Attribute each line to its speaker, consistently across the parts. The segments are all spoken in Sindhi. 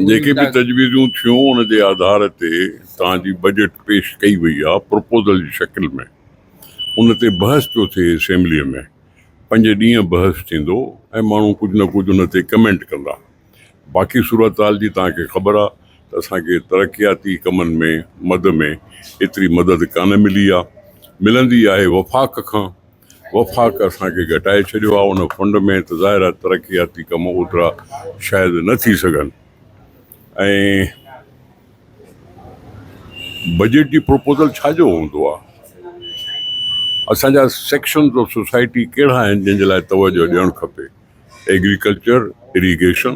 Speaker 1: جيڪي به تجويزون ٿيون ان جي آڌار تي توهان جي بجيٽ پيش ڪئي وئي آهي پروپوزل جي شڪل ۾ ان تي بحث پيو ٿئي اسيمبلي ۾ پنج ڏينهن بحث ٿيندو ۽ ماڻهو ڪجهه نه ڪجهه ان تي ڪمينٽ ڪندا باقي صورتحال جي توهان کي خبر آهي ته اسان کي ترقياتي ڪمن ۾ مد ۾ ايتري مدد ڪانه ملي آهي ملندي آهي وفاق کان وفاق اسان کي گهٽائي ڇڏيو آهي، ان فنڊ ۾ ته ظاهر آهي ترقياتي ڪم اوترا شايد نه ٿي سگهن ۽ بجيٽ جي پروپوزل ڇا جو هوندو آهي؟ اسان جا سيڪشنز آف سوسائٽي ڪهڙا آهن جن جي لاء توجهه ڏيڻ کپي؟ ايگريڪلچر، اريگيشن،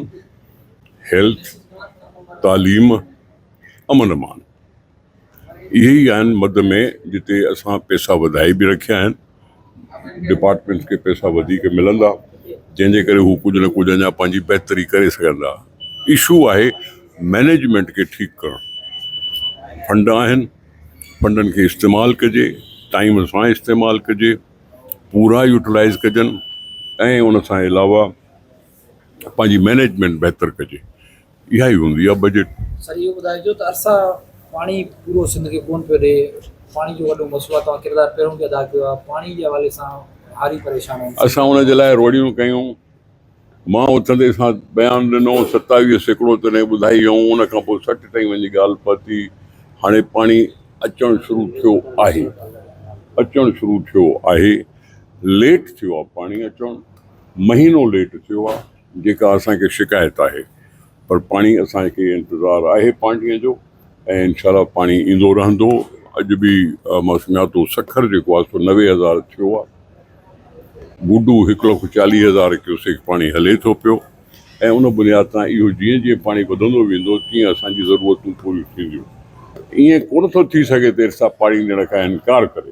Speaker 1: هيلٿ، تعليم، امن امان. اهي ئي آهن مد ۾ جتي اسان پئسا وڌائي به رکيا آهن، ڊپارٽمينٽس کي پئسا وڌيڪ ملندا جنهن جي ڪري هو ڪجهه نه ڪجهه اڃا پنهنجي بهتري ڪري سگهندا. اشو آهي مئنيجمينٽ کي ٺيڪ ڪرڻ. فنڊ آهن فنڊن کي استعمال ڪجي، ٽائيم سان استعمال ڪجي، پورا يوٽيلائيز ڪجن ۽ ان سان علاوه پنهنجي مينيجمينٽ بهتر ڪجي اها ئي هوندي آهي بجيٽ. سر اهو ٻڌائجو ته
Speaker 2: ارسا پاڻي پورو سنڌ کي ڪونه پيو ڏي پاڻي جو وڏو مسئلو آهي توهان ڪردار پهريون به ادا ڪيو آهي پاڻي جي حوالي سان هاري پريشان آهن اسان ان جي لاء روڙيون
Speaker 1: ڪيون مان اٿندي سان بيان ڏنو ستاويهه سيڪڙو تڏهن ٻڌائي هيئون ان کان پوء سٺ تائين وڃي ڳالهه پهتي هاڻي پاڻي اچڻ شروع ٿيو آهي اچڻ شروع ٿيو آهي ليٽ ٿيو آهي پاڻي اچڻ مهينو ليٽ ٿيو آ جيڪا اسان کي شڪايت آهي پر پاڻي اسان کي انتظار آهي پانڊيء جو ۽ انشاء الله پاڻي ايندو رهندو اڄ به مان سڃاتو سکر جيڪو آ سو نوي هزار ٿيو آ گڊو هڪ لک چاليهه هزار ڪيوسيڪ پاڻي هلي ٿو پيو ۽ ان بنياد تان اهو جيئن جيئن پاڻي وڌندو ويندو تيئن اسان جي ضرورتون پوريون ٿينديون ائين ڪونه ٿو ٿي سگهي ته ارسا پاڻي ڏيڻ کان انڪار ڪري